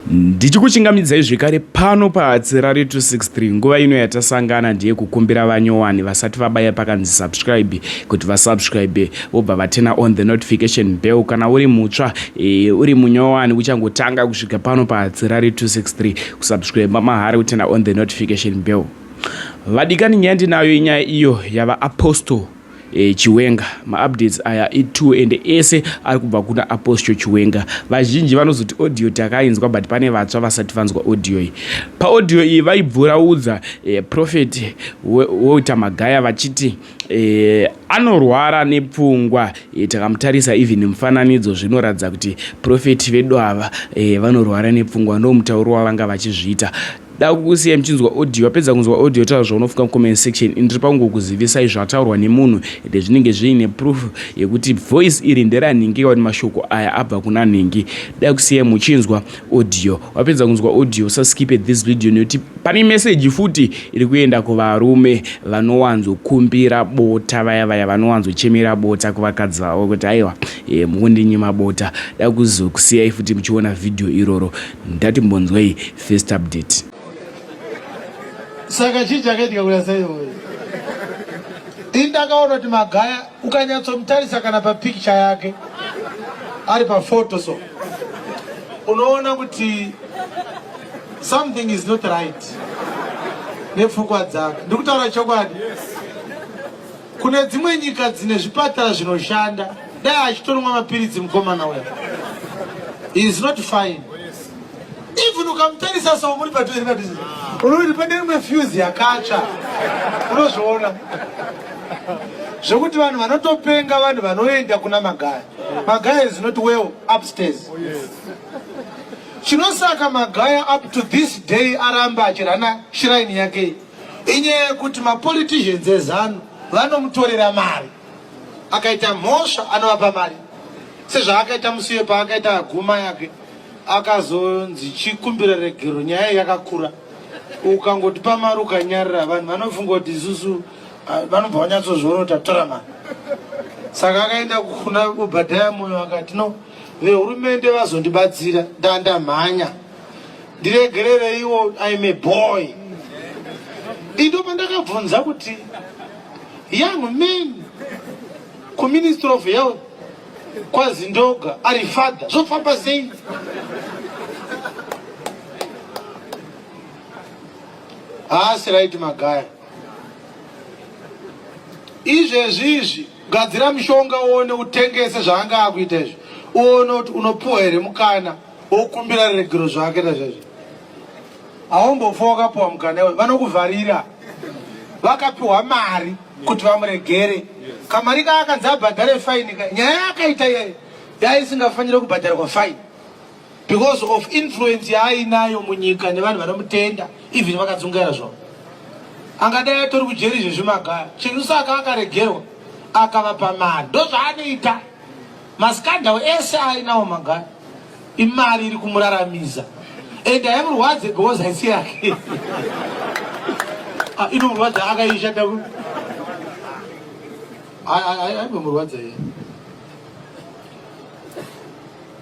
Ndichikuchingamidzai zvekare pano paAtsirari 263 nguva ino yatasangana ndiye kukumbira vanyowani vasati vabaya pakanzi subscribe kuti vasubscribe vobva vatena on the notification bell kana uri mutsva e, uri munyowani uchangotanga kusvika pano paAtsirari 263 kusubscribe mahara kutena on the notification bell vadikani nyaya ndinayo inyaya iyo yava apostle Eh, chiwenga maupdates aya ituo ende ese ari kubva kuna apostle chiwenga vazhinji vanozoti audio takainzwa but pane vatsva vasati vanzwa audio iyi paaudio iyi vaibvuraudza eh, prophet walter magaya vachiti eh, anorwara nepfungwa eh, takamutarisa even mufananidzo zvinoratidza kuti prophet vedu ava eh, vanorwara nepfungwa ndomutauro wavanga vachizviita Dakukusiya muchinzwa audio wapedza kunzwa audio taura zvaunofunga mu comment section ini ndiri pangu kuzivisai zvataurwa nemunhu ende zvinenge zviine proof yekuti voice iri ndera nhingi kawani mashoko aya abva kuna nhingi dakusiya muchinzwa audio wapedza kunzwa audio sa skipe this video nekuti pane message futi iri kuenda kuvarume vanowanzo kumbira bota vaya vaya vanowanzo chemera bota kuvakadzi vavo kuti aiwa e, eh, mukundinyima bota dakuzokusiyai futi muchiona video iroro ndati mbonzwei first update saka chii chakaitika kuya saiwoyo ini ndakaona kuti magaya ukanyatsomutarisa kana papikicha yake ari pafoto so unoona kuti something is not right nepfungwa dzake ndikutaura chokwadi yes. Kune dzimwe nyika dzine zvipatara zvinoshanda dai achitonwa mapiritsi mukomana uya is not fine even ukamutarisa so muri patoerina unoti pane rimwe fuse yakatsva unozviona zvekuti vanhu vanotopenga vanhu vanoenda kuna magaya magaya is not well upstairs chinosaka magaya up to this day aramba achirana shiraini yake Inyaya yekuti mapoliticians ezanu vanomutorera mari, akaita mhosva anovapa mari sezvaakaita musiye paakaita aguma yake akazonzi chikumbira regero nyaya yakakura ukangoti pamari ukanyarira vanhu vanofunga kuti isusu ah, vanobva vanyatsozviona kuti atora mari saka akaenda kuna obhadhaya moyo akati no vehurumende vazondibatsira ndandamhanya ndiregerereiwo im a boy indo pandakabvunza kuti young man kuministry of health kwazindoga ari father zvofamba sei haasi right magaya izvezvi izvi gadzira mushonga uone utengese zvaanga akuita izvi uone kuti unopuwa here mukana okumbira regero zvake nazvazvo haumbofa wakapiwa mukana we vanokuvharira vakapiwa mari kuti vamuregere kamari ka akanzi abhadhare faini ka nyaya yakaita iyeyo yaisingafanire kubhadharwa faini because of influence yaainayo munyika nevanhu vanomutenda even vakadzungaira zvavo angadai atori kujeri izvezvi magaya chinhu saka akaregerwa akavapa mari ndozvaanoita Maskandal ese ainawo magaya imari iri kumuraramisa and haimurwadze because haisi yake ah, inomurwadza akaishata aimbomurwadza iye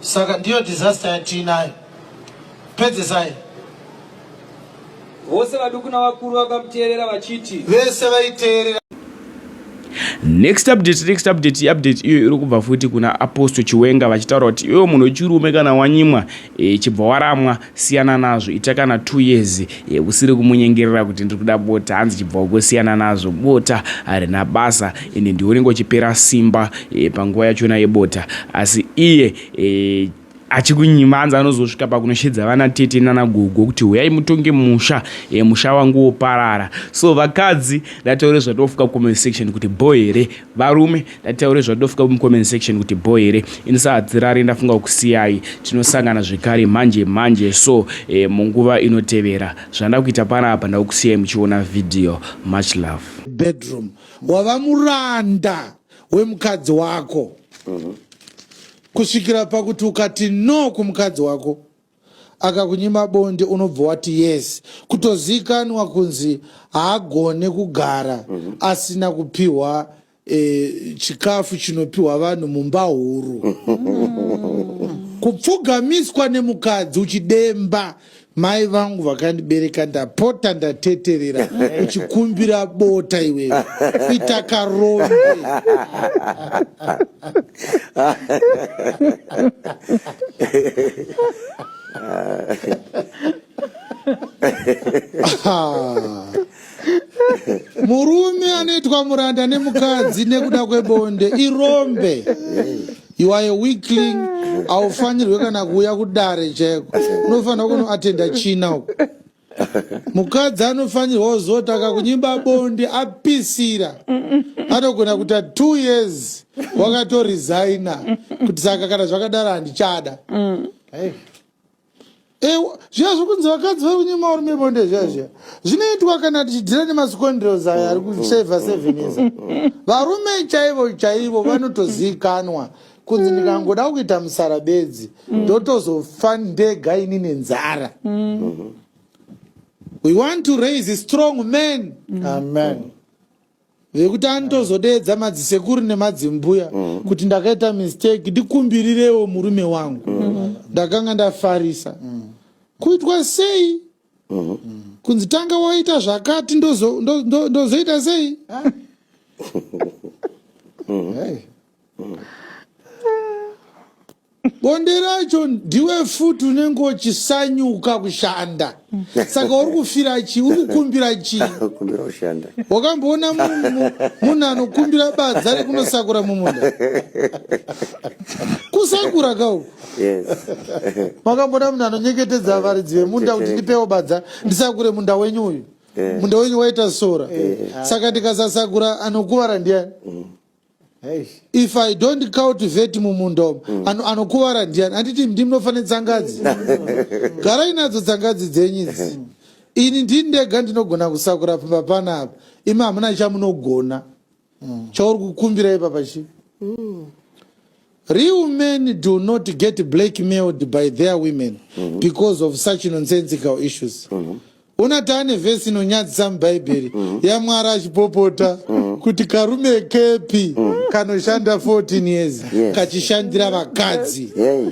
saka ndiyo disaster yatiinayo pedzesai Vose vaduku navakuru vakamuteerera vachiti. Vese vaiteerera. Next update, next update, update iyo iri kubva futi kuna Apostle Chiwenga vachitaura kuti iwe munhu wechirume kana wanyimwa e, chibva waramwa siyana nazvo ita kana 2 years e, usiri kumunyengerera kuti ndiri kuda bota hanzi chibva uko siyana nazvo bota harina basa ende ndiwe unenge uchipera simba e, panguva yachona yebota asi iye e, achikunyima anzi anozosvika pakunoshedza vana tete nana gogo kuti huyai mutonge musha e, musha wangu woparara so vakadzi ndataure zvatofika comment section kuti bo here varume ndataure zvatofika mucomment section kuti bo here ini sahadzirari ndafunga kusiyai tinosangana zvekare manje manje so e, munguva inotevera zvandakuita pana apa ndakusiyai muchiona video much love bedroom wava muranda wemukadzi wako mm -hmm. kusvikira pakuti ukati no kumukadzi wako akakunyima bonde unobva wati yes kutozikanwa kunzi haagone kugara mm -hmm. asina kupiwa e, chikafu chinopiwa vanhu mumba huru mm -hmm. kupfugamiswa nemukadzi uchidemba mai vangu vakandibereka ndapota ndateterera uchikumbira bota iwewe ita karombe Murume anoitwa muranda nemukadzi nekuda kwebonde irombe. You are a weakling, haufanirwe kana kuuya kudare chaiko. Unofanirwa kunoatenda china uko. Mukadzi anofanirwa kuzotanga kunyimba bonde apisira. Anogona kuita two years wakatoresigner kuti saka kana zvakadaro handichada. Hey. zviya zviri kunzi vakadzi vari kunyima varume bonde zviya mm. zviya zvinoitwa kana tichidhira nemascondrels aya ari kuseva mm. seven years mm. varume chaivo chaivo vanotoziikanwa kunzi ndikangoda kuita musara bedzi ndotozofa ndega ini nenzara we want to raise strong men amen vekuti anitozodeedza madzisekuru nemadzimbuya mm. kuti ndakaita mistake ndikumbirirewo murume wangu mm. ndakanga ndafarisa mm. kuitwa sei mm. kunzi tanga waita zvakati ndozoita sei mm. bonde racho ndiwe futi unenge uchisanyuka kushanda saka uri kufira chii uri kukumbira chii kumbira kushanda wakamboona munhu munhu anokumbira badza rekunosakura mumunda kusakura kauku yes makambona munhu anonyeketedza varidzi vemunda kuti ndipewo badza ndisakure munda wenyu uyu Yeah. munda wenyu waita sora saka ndikasasakura anokuvara ndiani if i don't cultivate mumunda umu mm. ano, anokuvara ndiani anditi ndi munofanira tsangadzi garai nadzo tsangadzi dzenyu idzi mm. ini ndini ndega ndinogona kusakura pamba pana apa imi hamuna chamunogona mm. chauri kukumbira ipapa chii mm. Real men do not get blackmailed by their women mm -hmm. because of such nonsensical issues. Mm -hmm una tane vhesi inonyadzisa mubhaibheri mm. yamwari achipopota mm. kuti karume kepi mm. kanoshanda 14 years yeah. kachishandira vakadzi yeah.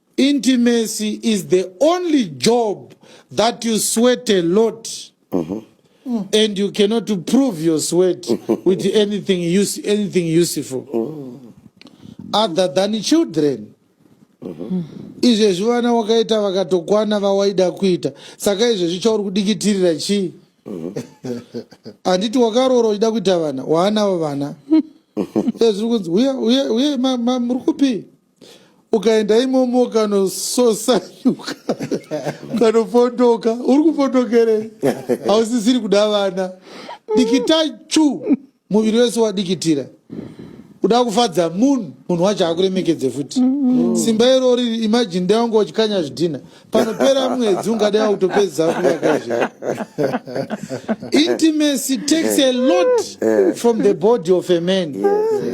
Intimacy is the only job that you sweat a lot mm -hmm. Mm. and you cannot prove your sweat with anything use anything useful mm. other than children mm-hmm. izvezvi vana wakaita vakatokwana vawaida kuita saka izvezvi chauri kudikitirira chii mm-hmm. handiti wakaroora uchida kuita vana waanavo vana ezviri kunzi uye uye uye muri kupi ukaenda imomo ukanososanyuka ukanopondoka uri kupondokerei hausisiri kuda vana dikitai chu muviri wese wadikitira kuda kufadza munhu munhu wacho akuremekedze futi simba irori imajini dai wanga uchikanya zvidhina panopera mwedzi ungade wakutopedza kuvakazve intimacy takes a lot from the body of a man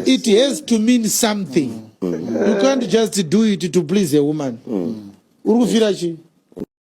it has to mean something you can't just do it to please a woman uri kufira chii